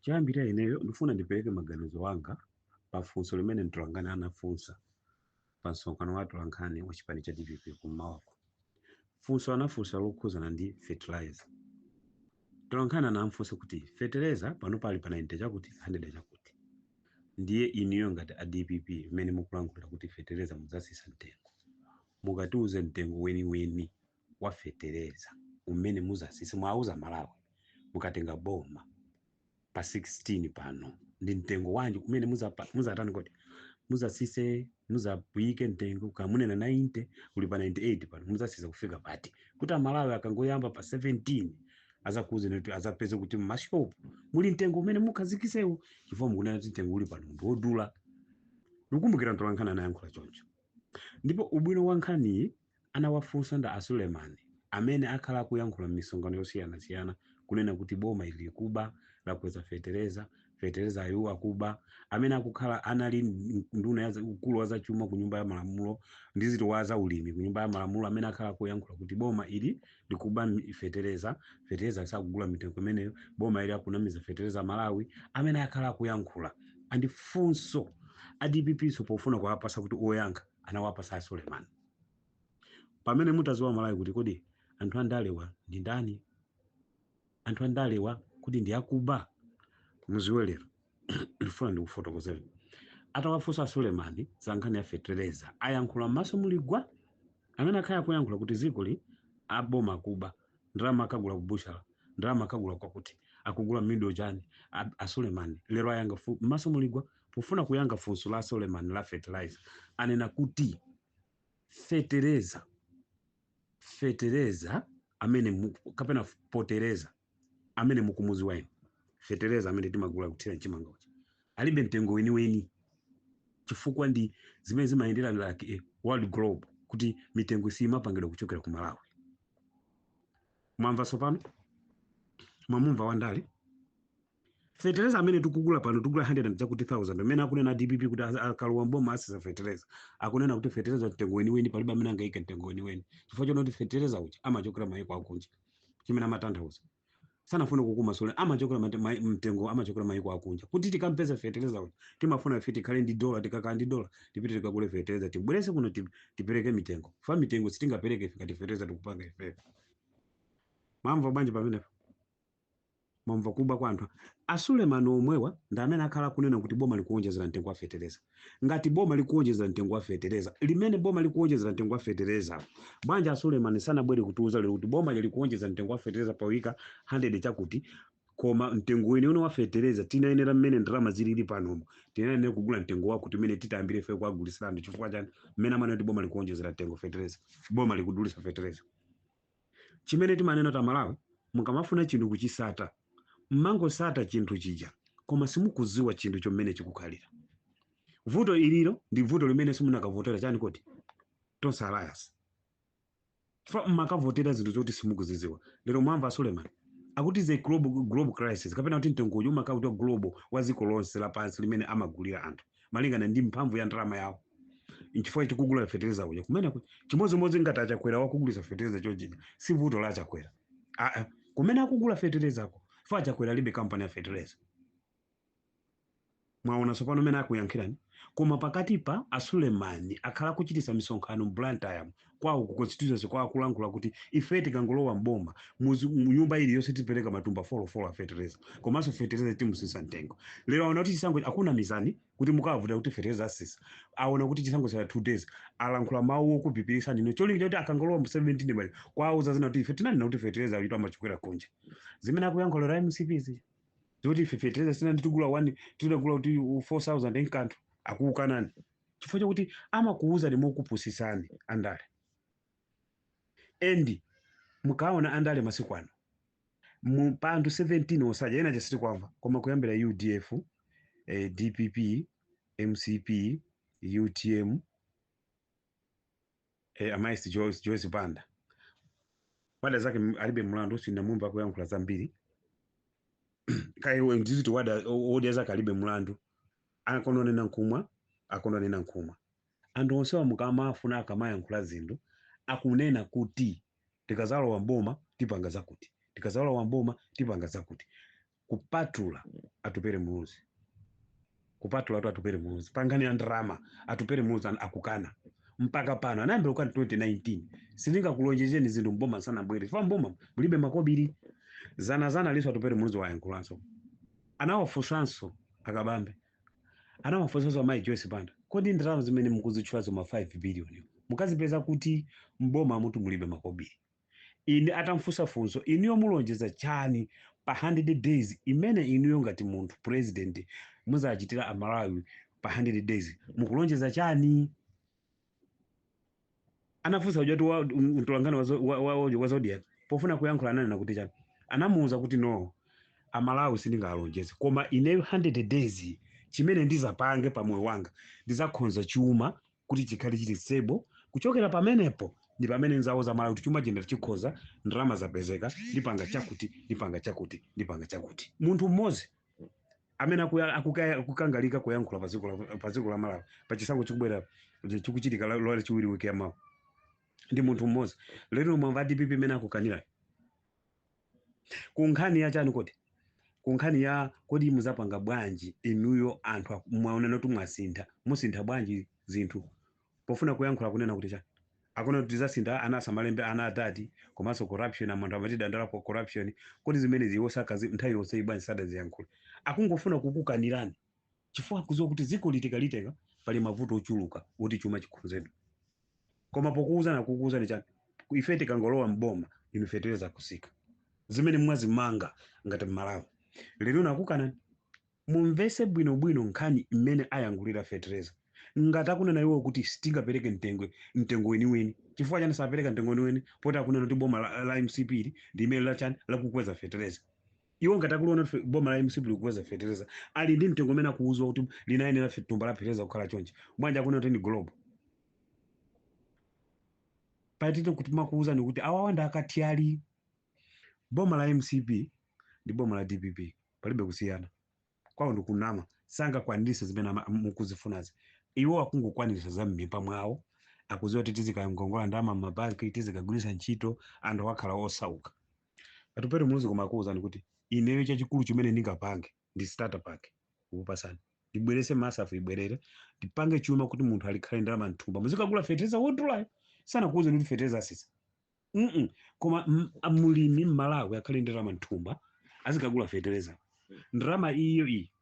Choyambirira ineyo ndifuna ndipereke maganizo anga pa funso limene mtolankhani anafunsa pa msonkhano wa atolankhani wa chipani cha dpp kum'mawako. Funso anafunsa lokhuzana ndi fertilizer. Mtolankhani anafunsa kuti fertilizer pano pali pa 90 chakuti 100 chakuti. Ndiye inuyo ngati a dpp mmene mukulankhulira kuti feteleza mudzasisa mtengo. Mukatiuze mtengo weniweni wa fetereza umene muzasise muwauze amalawi mukatenga boma pa 16 pano ndi mtengo wanji umene muzapa- muzatani kodi muzasise muzauyike mtengo kaya mukunena 90 uli pa 98 pano muzasisa kufika pati kuti amalawi akangoyamba pa 17 azakuuzeni kuti azapeze kuti mmashopu muli mtengo umene muzakhazikisewu chifukwa mukunena kuti mtengo uli pano ndi wodula ndikumbukira mtolankhani anayankhula choncho ndipo ubwino wa nkhaniyi anawafunsa ndi a Suleman amene akhala akuyankhula mmisonkhano yosiyanasiyana kunena kuti boma ili likuba, lakweza fetereza, feterezayu akuba, amene akukhala anali nduna ya za- ukulu wa zachuma ku nyumba ya malamulo ndi ziti wa za ulimi ku nyumba ya malamulo amene akhala akuyankhula kuti boma ili likuba mi- fetereza, fetereza sakugula mitengo imeneyo, boma ili akunamiza fetereza Amalawi, amene akhala akuyankhula ali ndi funso a DPP so pofuna kuwapasa kuti oyankha anawapasa a Suleman. pamene mutaziwa amalawi kuti kodi anthu andalewa ndi ndani anthu andalewa kuti ndi akuba muziwe lero ndifuna ndikufotokozeni atawafunsa sulemani za nkhani ya fetereza ayankhula m'maso muli gwa amene akhala akuyankhula kuti ziko li aboma kuba ndalama akagula kubutchala ndalama akagula kwakuti akugula mido chani a- asulemani lero ayankha fu- m'maso muli gwa Pofuna kuyankha funso la Suleman la fertilizer, anena kuti fetereza fetereza amene mu- kapena fetereza amene mukumudziwa inu fetereza amene timagula kuthira mchimanga uja alibe mtengo weniweni chifukwa ndi zimene zimayendera like eh, world globe kuti mitengo siyimapangidwa kuchokera ku malawi mwamva tsopano mwamumva wandale fetereza amene tikugula pano tikugula 100 chakuti 1000 amene akunena dpp kuti az- akalowa mboma asisa fetereza akunena kuti fetereza mtengo weniweni palibe amene angaike mtengo weniweni chifukwa chonena kuti fetereza uja amachokera mayiko akunja chimene amatanthauza sanafune kukumasulira amachokera mate- mai- mtengo amachokera mayiko akunja kuti tikampeza fetereza uja timafuna ife tikhale ndi dola tikakhala ndi dola tipite tikagule fetereza tibwerese kuno tip- tipereke mitengo fa mitengo sitingapereke ife ngati fetereza tikupanga ifeyo mwamva bwanji pamenepo Mwamva kupwa kwa anthu a Suleman omwewa ndi amene akhala akunena kuti boma likuonjezera mtengo wa fetereza. Ngati boma likuonjezera mtengo wa fetereza, limene boma likuonjezera mtengo wa fetereza, bwanji a Suleman sanabwere kutiuza lero kuti boma ili likuonjezera mtengo wa fetereza poika 100 chakuti koma mtengo weniweni wa fetereza tinayenera mmene ndalama zilili panomu tinayenera kugula mtengo wakuti umene titayambire ife kuwagulitsira anthu chifukwa chani mmene amanena kuti boma likuonjezera mtengo fetereza boma likudulitsa fetereza chimene timanena Amalawi mukamafuna chinthu kuchisata mmangosata chinthu chija koma simukuziwa chinthu chomwe chikukhalira vuto ili ilo ndi vuto limene simunakavotera chani kuti tonse alliance fa mmakavotera zinthu zoti simukuziziwa lero mwamva suleman akuti the global, global crisis kapena kuti mtengo uyu umakhala kuti global wa dziko lonse lapansi limene amagulira anthu malingana ndi mphamvu ya ndalama yawo nchifukwa tikugula fetereza uja kumene ku- chimodzimodzi ngati achakwera wakugulisa fetereza chojija si vuto la achakwera aa kumene akugula feterezako fa achakwera alibe kampani ya fetereza mwaona tsopano mene akuyankhirani koma pakatipa asulemani akhala akuchitisa misonkhano mu blantyre kwawo ku constituency kwawo akulankhula kuti ife tikangolowa mboma muzi- mu nyumba iliyonse tipereka matumba folofolo a fetereza komanso fetereza timutsitsa mtengo lero aona kuti chisankho akunamizani kuti mukawavotera kuti fertilizer atsitsa aona kuti chisankho chatsala 2 days alankhula mawu okupirira ndi cholinga kuti akangolowa mu 17 muja akuuzani zina kuti ife tinanena kuti fertilizer uyutu amakwera kunja zimene akuyankhula a mcp zija zoti ife fertilizer sina nditigula 1 tinagula kuti 4000 enkati akuukanani chifukwa chakuti amakuuzani mokupusisani andale and mukaona andale masiku ano mu pa anthu 17 onse aja ena sitikuwamva koma kuyambira udf eh, dpp mcp utm eh, amayi joyce joyce banda wadya zake m- alibe mlandu sindamumva akuyankhula zambiri kaya ndi ziti wadya o- odya zake alibe mlandu adanena nkumwa adanena nkumwa anthu onsewa mukamafuna akamayankhula zinthu akunena kuti Tikazalowa mboma tipanga zakuti. Tikazalowa mboma tipanga zakuti. Kupatula Atupere Muluzi. Kupatula tu Atupere Muluzi. Pankhani ya ndalama. Atupere Muluzi akukana. Mpaka pano. Anayambira kukana 2019. Sindingakulonjezeni zinthu mboma sanabwere. Chifukwa mboma. Mulibe makobiri. Dzana dzanali nso Atupere Muluzi wayankhulanso. Anawafunsanso a Kabambe. anawafunsanso amayi joyce banda kodi ndalama zimene mukuzitchulazo ma 5 billion mukazipeza kuti mbomamutu mulibe makobiri ine atamfunsa funso inuyo mulonjeza chani pa 100 days imene inuyo ngati munthu president muzachitira amalawi pa 100 days mukulonjeza chani anafunsa ujatu wa- m- mtolankhani wa zo- wa- wa- wa- wa zodiak pofuna kuyankhula ananena kuti chani anamuwuza kuti no amalawi sindingalonjeze koma ine 100 days chimene ndizapange pa moyo wanga ndizakhonza chuma kuti chikhale chili stable kuchokera pamenepo ndi pamene ndizawuza malawi kuti chuma chino chikhoza ndalama zapezeka ndipanga chakuti ndipanga chakuti ndipanga chakuti munthu mmodzi amene akuya- akuka- akukangalika kuyankhula pa dziko la- pa dziko la malawi pa chisankho chikubwera chikuchitika la- lolachiwiri wiki ya mawa ndi munthu mmodzi lero mwamva dpp imene akukanirayo ku nkhani ya chani kodi ku nkhani ya kodi muzapanga bwanji inuyo anthu aku- mwaonana kuti mwasintha musintha bwanji zinthu pofuna kuyankhula akunena kuti chani? akunena kuti tizasintha ana asamalembe ana a dad komanso corruption anthu amatidandaulapo corruption kodi zimenezi iwo zakazi nthawi yonseyi bwanji sadaziyankhule akungofuna kukukanirani chifukwa akuziwa kuti dzikoli tikalitenga pali mavuto ochuluka oti chuma chikhonzedwe koma pokuwuzani akukuwuzani chani Ku- ife tikangolowa mboma inu fetereza kusika zimene mwazimva ngati mmalawi lero ino akukanani Mumvese bwino bwino nkhani mmene ayankhulira fetereza ngati akunena iwowo kuti sitingapereke mtengo mtengo weniweni chifukwa chani sapereka mtengo weniweni poti akunena kuti boma la, la mcp ili ndi limene lachani lakukweza fetereza iwo ngati akuliona kuti fe- boma la mcp likukweza fetereza ali ndi mtengo umene akuwuzwa kuti linayenera fe- thumba la fetereza kukhala chonchi bwanji akunena kuti ndi global patite kuti makuwuzani kuti awawa ndi akathyali boma la mcp ndi boma la dpp palibe kusiyana kwawo ndikunama sangakwanirise zimene ama- mukuzifunazi iwo akungokwanirisa za m'mimba mwawo akuziwa kuti tizikangongola ndalama m'mabanki tizikagwiritsa ntchito anthu akakhala osauka atupere muluzi koma akuwuzani kuti ineyo chachikulu chimene ndingapange ndi starter pack kukupasani ndibwerese masaf ibwerere ndipange chuma kuti munthu alikhale ndalama mthumba muzikagula fetereza wodulayo sanakuwuzani kuti fetereza asisa mm -mm. koma m- a- mulimi mmalawi akhale ndalama mthumba azikagula fetereza ndalama iyo iyi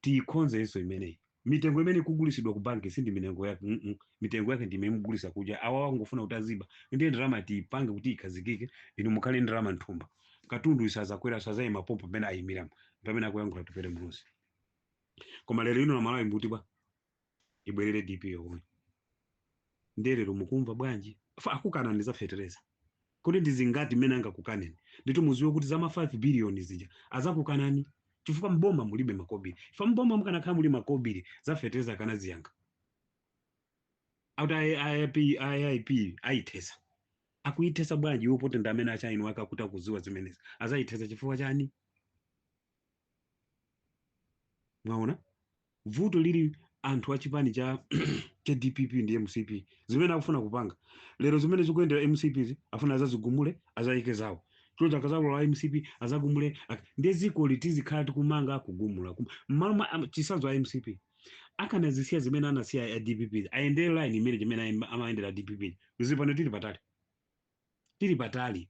tiyikhonzenso imeneyi mitengo imene ikugulisidwa ku banki si ndi mitengo yake mm -mm. mitengo yake ndi imene mugulisa kuja awa angofuna kuti aziba ndiye ndalama tiyipange kuti ikhazikike inu mukhale ndalama mthumba katunduyu sazakwera azayima pompo pamene ayimiramo pamene akuyankhula atupere muluzi koma lero ino amalawi mukuti bwa ibwerere dpp yomwe ndiye lero mukumva bwanji Fa- akukanani za fetereza kodi ndi zingati mmene angakukaneni ndiyetu muziwe kuti zama 5 biliyoni zija azakukanani chifukwa mboma mulibe makobiri ifa mboma mukanakhala muli makobiri za fetereza akanaziyankha akuti aip aip ayithesa akuyithesa bwanji iwo poti ndi amene achainu ake akuti akuziwa zimenezi azayithesa chifukwa chani mwaona vuto lili anthu a chipani cha cha dpp ndi mcp zimene akufuna kupanga lero zimene akuyendera mcp zi afuna azazigumule azayike zawo choncho akazalola a mcp azagumule ak- ndiye dziko litizikhala tikumanga kugumula kum- mmalo mwa am- chitsanzo a mcp akanazisiya zimene anasiya a dpp ayendere line imene zimene amayendera a dpp zipano tili patali tili patali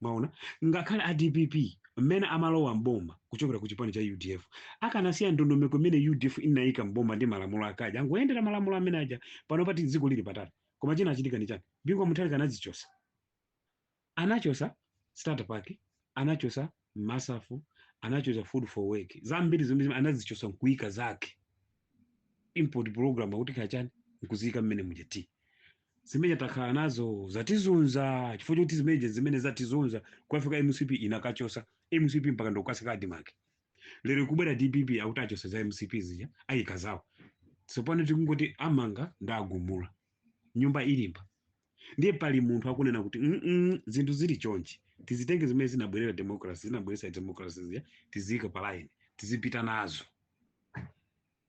mwaona ngakhale a dpp mmene amalowa mboma kuchokera ku chipani cha udf akanasiya ndondomeko imene udf inayika mboma ndi malamulo akaja angoyendera malamulo amene aja pano pati dziko lili patali koma chinachitika ndi chani bingu wa mutharika anazichosa anachosa starter pack anachosa masafu anachosa food for work zambiri zomwe zimene anazichosa nkuika zake input program akuti kachani nkuziyika mmene muja eti zimene takhala nazo zatizunza chifukwa choti zimeneje zimene zatizunza kukafika mcp inakachosa mcp mpaka ndikukasika admark lero ikubwera dpp akuti achosa za mcp zija ayika zawo tsopano tikungoti amanga nda agumula nyumba ilimba ndiye pali munthu akunena kuti "Mm-mm, zinthu zili chonchi tizitenge zimene zinabwerera democracy zinabweretsa democracy zija tiziyika pa line tizipita nazo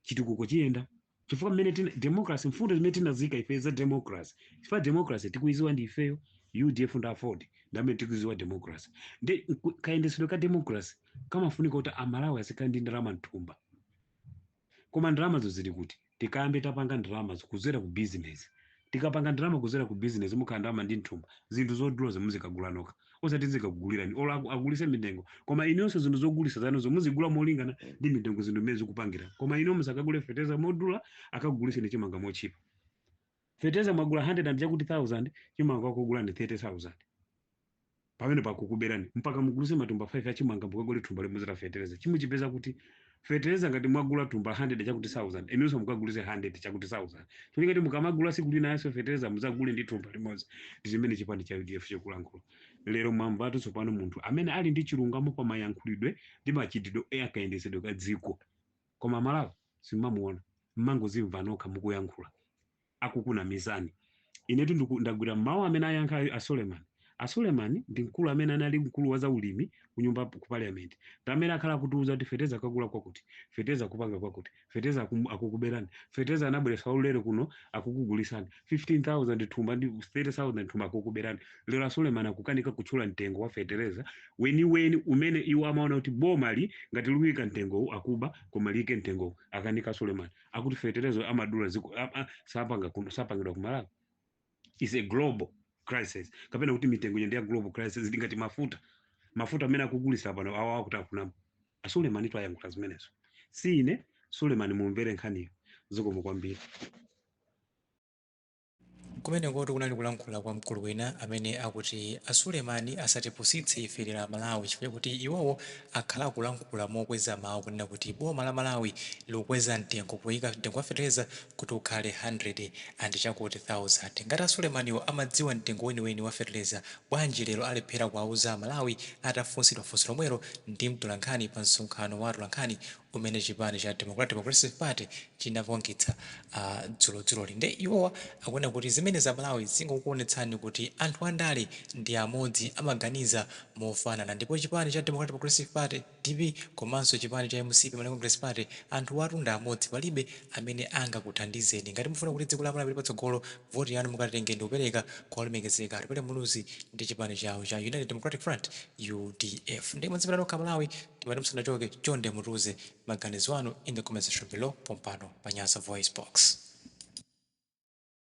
chitukuko chiyenda chifukwa mmene tina democracy mfundo zimene tinazika ife za democracy chifukwa democracy tikuiziwa ndi ifeyo udf nda aford ndamene tikuiziwa democracy nde nku- kayendetsedwe ka democracy kamafunika kuti amalawi azikhala ndi ndalama mthumba koma ndalamazo zili kuti tikayambe tapanga ndalamazo kuzera ku business Tikapanga ndalama kuzera ku business mukhala ndalama ndi mthumba zinthu zodulazo muzikagula nokha osati tizikakugulirani or agulise mitengo koma inuyonso zinthu zogulisa zanuzo muzigula molingana ndi mitengo zinthu mmene zikupangira koma inuyo musakagule fertilizer modula akakuguliseni chimanga motchipa fertilizer mwagula 100 and chakuti thousand chimanga akugulani 30000 Pamenepo akukuberani mpaka mugulise matumba 5 achimanga mukagule thumba limodzi la fetereza chimuchipeza kuti? Fetereza ngati mwagula thumba 100 chakuti sauzande inunso mukagulise 100 chakuti sauzande cholinga choti mukamagula siku linanso fetereza muzagule ndi thumba limodzi ndi zimene chipani cha udf chikulankhula lero mwamvatu tsopano munthu amene ali ndi chilungamo pa mayankhulidwe ndi machitidwe a kayendetsedwe ka dziko koma amalawi simumamuona mmangozimva nokha mukuyankhula akukunamizani. Inetu ndiku- ndagwira mawu amene ayankha a Suleman. A Suleman ndi mkulu amene anali mkulu wa zaulimi ku nyumba ku parliament. Ndi amene akhala akutiuza kuti feteza akagula kwakuti, feteza akupanga kwakuti, feteza akum- akukuberani, feteza anabweretsa waulere kuno akukugulisani, 15,000 thumba ndi 30,000 thumba akukuberani. Lero a Suleman akukanika kutchula mtengo wa fetereza weniweni umene iwo amaona kuti boma-li ngati likuika mtengowu akuba koma liike mtengowu akanika Suleman. akuti fertilizer amadula chifukwa a- a- sapanga kuno- sapangidwa ku malawi is a global crisis kapena kuti mitengo ino ndi ya global crisis ndi ngati mafuta mafuta amene akugulitsa pano awa akuti akunama a Sulemani ndiwo ayankhula zimenezo si ine sulemani mumvere nkhaniyo zikomo kwambiri Kumenekotu kunali kulankhula kwa mkulu wina amene akuti a Suleman asatipusitse ife lero a Malawi chifukwa chakuti iwowo akhala akulankhula mokweza mawu kunena kuti boma la Malawi likukweza mtengo kuika mtengo wa fetereza kuti ukhale hundred and chakuti thousand. Ngati a Sulemaniwo amadziwa mtengo weniweni wa fetereza bwanji lero alephera kuwauza a Malawi atafunsidwa funso lomwelo ndi mtolankhani pa msonkhano wa atolankhani umene chipani cha Democratic Progressive Party chinapangitsa dzulodzuloli nde iwowa akunena kuti zimenezi a Malawi zingokuonetsani kuti anthu a ndale ndi amodzi amaganiza mofanana ndipo chipani cha Democratic Progressive Party, dpp, komanso chipani cha mcp, Malawi Congress Party, anthuwatu ndi amodzi palibe amene angakuthandizeni ngati mufuna kuti dziko la Malawi lipite patsogolo voti yanu mukatenge ndikupereka kwa olemekezeka Atupele Muluzi ndi chipani chawo cha United Democratic Front, udf, nde mwadzimvera nokha a Malawi. Timati musanachoke chonde mutiuze maganizo anu in the comment section below pompano pa Nyasa VoiceBox.